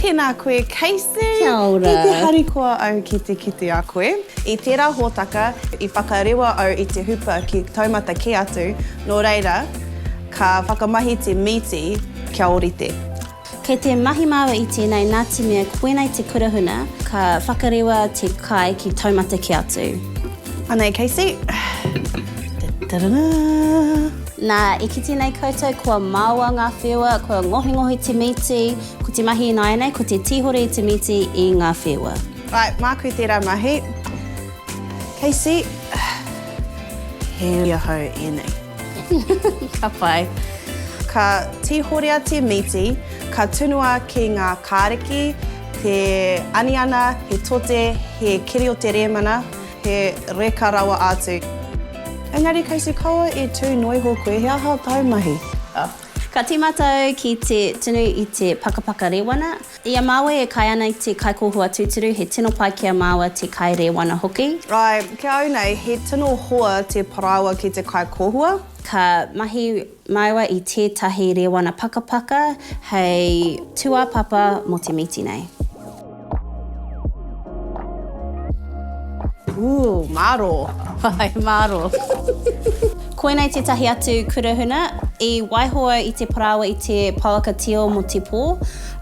Tēnā koe, Casey. Kia ora. Ki te harikoa au ki te kite a koe. I tērā hōtaka, i whakarewa au i te hupa ki taumata kē atu, nō reira, ka whakamahi te mīti kia ōrite. Kei te mahi māua i tēnei nā te mea koinei te kura huna, ka whakarewa te kai ki taumata kē atu. Anei Casey. Taranaa! Nā, i kite nei koutou kua māua ngā wheua, kua ngohingohi te mīti, ko te mahi ināianei ko te tīhore i te mīti i ngā wheua. Right, māku tērā mahi. Casey, he iwi ahau ēnei. Ka pai. Ka tihorea te mīti, ka tunua ki ngā kāriki, te aniana, he tote, he keri o te rēmana, he reka rawa atu. Engari kei te kaua e tū noiho koe, he aha tāu mahi? Ka tīmata au ki te tunu i te pakapaka rewana, I a māua e kai ana i te kaikōhua tūturu, he tino pai ki a māua te kai rēwana hoki. Āe, ki a au nei, he tino hoa te parāoa ki te kaikōhua. Ka mahi māua i tētahi rēwana pakapaka hei tūāpapa mō te mīti nei. Ooh, mārō. Āe, mārō. Koinei tētahi atu kura huna i waiho au i te parāoa i te pouaka tio mō te pō.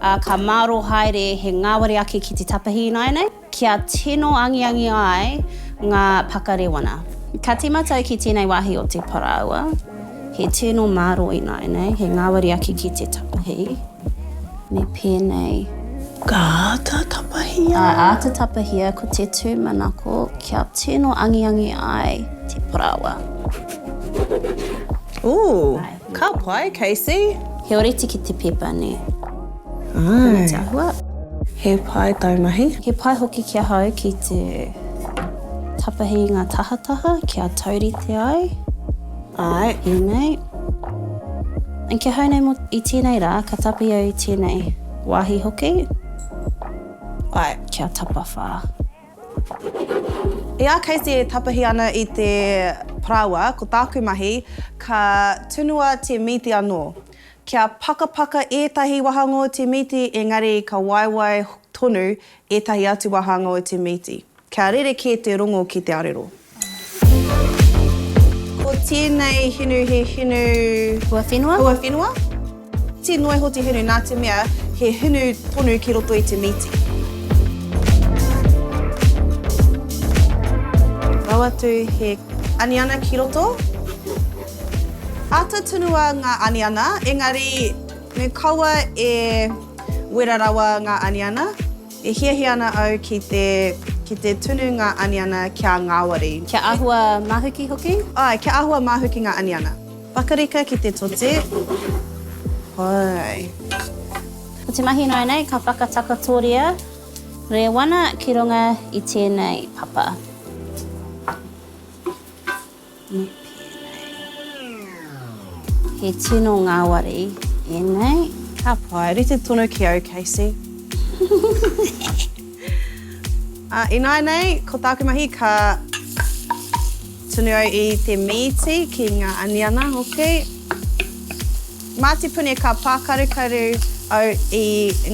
ā, ka mārō haere he ngāwari ake ki te tapahi ināianei, kia tino angiangi ai ngā pakarewana. Ka tīma tau ki tēnei wāhi o te parāoa, he tino mārō ināianei he ngāwari ake ki te tapahi, me pēnei. Ka āta tapahia. Ka āta tapahia ko te tūmanako kia tino angiangi ai te parāoa. Ooh! Ka pai, Casey! He oriti ki te pepa, nē? Āe. Te āhua. He pai tau mahi. He pai hoki ki ahau ki te tapahi i ngā tahataha kia taurite ai. Āe. Ēnei. Ki ahau nei mō i tēnei rā, ka tapahi au i tēnei wāhi hoki. Āe. Kia tapawhā. E a Casey e tapahi ana i te parāoa, ko tāku mahi, ka tunua te mīti anō. Kia pakapaka ētahi wahanga o te mīti engari ka waewae tonu ētahi atu wahanga o te mīti. Kia rerekē te rongo ki te arero. Ko tēnei hinu he hinu. Huawhenua? Huawhenua. Tē noa iho te hinu nā te mea he hinu tonu ki roto i te mīti. Rau atu he aniana ki roto. Āta tunua ngā aniana, engari me kaua e wera rawa ngā aniana. E hiahia ana au ki te, ki te tunu ngā aniana kia ngāwari. Kia āhua mahuki hoki? Āe, kia āhua mahuki ngā aniana. Pakarika ki te tote. Āe. Ko te mahi noa nei ka whakatakotoria rewana ki runga i tēnei papa. He tino ngāwari ēnei. Ka pai, rite tonu ki au, Casey. Ināinei, ko tāku mahi ka tunu au i te mīti ki ngā aniana hoki. Mā te puni ka pākarukaru au i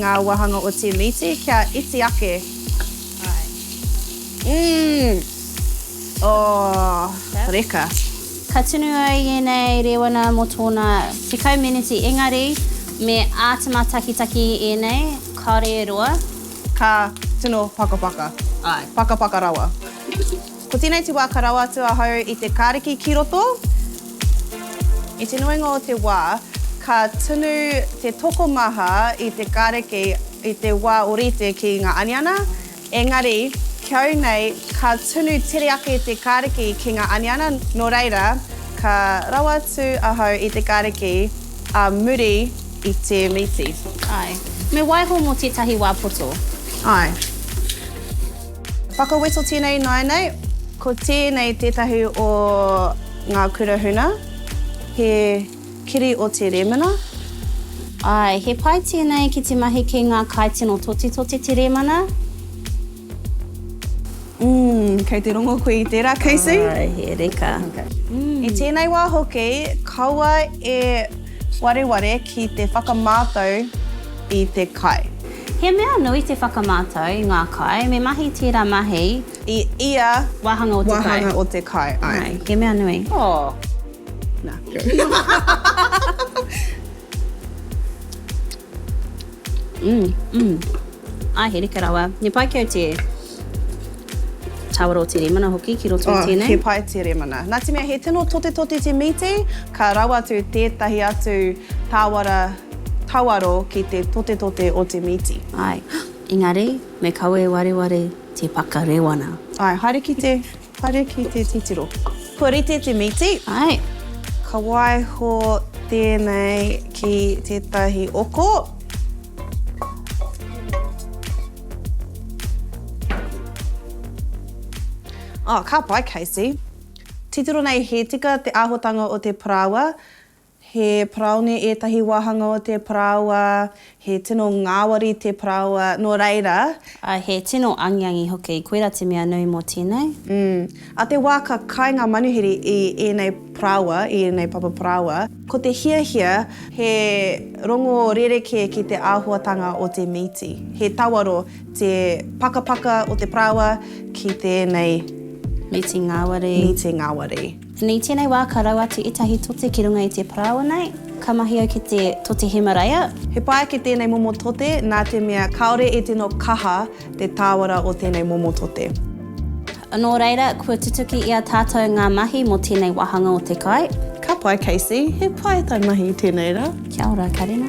ngā wāhanga o te mīti kia iti ake. Āe. Umm! Oh, reka. Ka tunu ai ēnei rēwana mō tōna tekau meneti engari me āta mātakitaki ēnei, kāore e roa. Ka tino pakapaka. Āe. Pakapaka rawa. Ko tēnei te wā ka rawa atu ahau i te kāriki ki roto. I te nuinga o te wā, ka tunu te tokomaha i te kāriki i te wā orite ki ngā aniana, Engari, ki au nei, ka tunu tere ake te Kariki ki nga aniana, no reira, ka rawa atu ahau i te Kariki a muri i te miti. Ae. Me waiho mo tetahi wa poto. Ae. Whakaweto tenei ināianei. Ko tenei tetahi o nga kura huna, he. Kiri o Te Rēmana. Āe, he pai tēnei ki te mahi ki ngā kaitino totitoti te Rēmana. Umm, kei te rongo koe i tērā, Casey? Āe, he reka. I tēnei wā hoki, kaua e wareware ki te whakamātau i te kai. He mea nui te whakamātau i ngā kai, me mahi tērā mahi. I ia wāhanga o te kai. Āe, he mea nui. Oh. Nā, go. Mmm, mmm. Ai, he reka rawa. Me pai kei te tāwaro o te rēmana hoki ki roto oh, tēnei. He pai te rēmana. Nā te mea, he tino tote tote te mīti, ka rawa atu tētahi atu tāwara tawaro ki te tote tote o te mīti. Ai, engari, me kawe wareware te paka rewana. Ai, haere ki te Haere ki te titiro. Kua rite te mīti. Ae. Ka waiho tēnei ki tētahi oko. Oh, ka pai, Casey. Titiro nei, he tika te āhuatanga o te parāoa. He paraone ētahi wāhanga o te parāoa, he tino ngāwari te parāoa, nō reira. Ā, he tino angiangi hoki, koirā te mea nui mō tēnei. Umm. Ā te wā ka kai ngā manuhiri i ēnei parāoa, i ēnei papa parāoa, ko te hiahia. He rongo rerekē ki te āhuatanga o te mīti. He tawaro te pakapaka o te parāoa ki tēnei. Mīti ngāwari. Mīti ngāwari. I tēnei wā ka rau atu ētahi tote ki runga i te parāoa nei, ka mahi au ki te tote Hemaraia. He pai ake tēnei momo tote nā te mea kāore e tino kaha te tāwara o tēnei momo tote. Nō reira, kua tutuki i a tātou ngā mahi mō tēnei wāhanga o te kai. Ka pai, Casey. He pai tai mahi tēnei rā. Kia ora, Karina.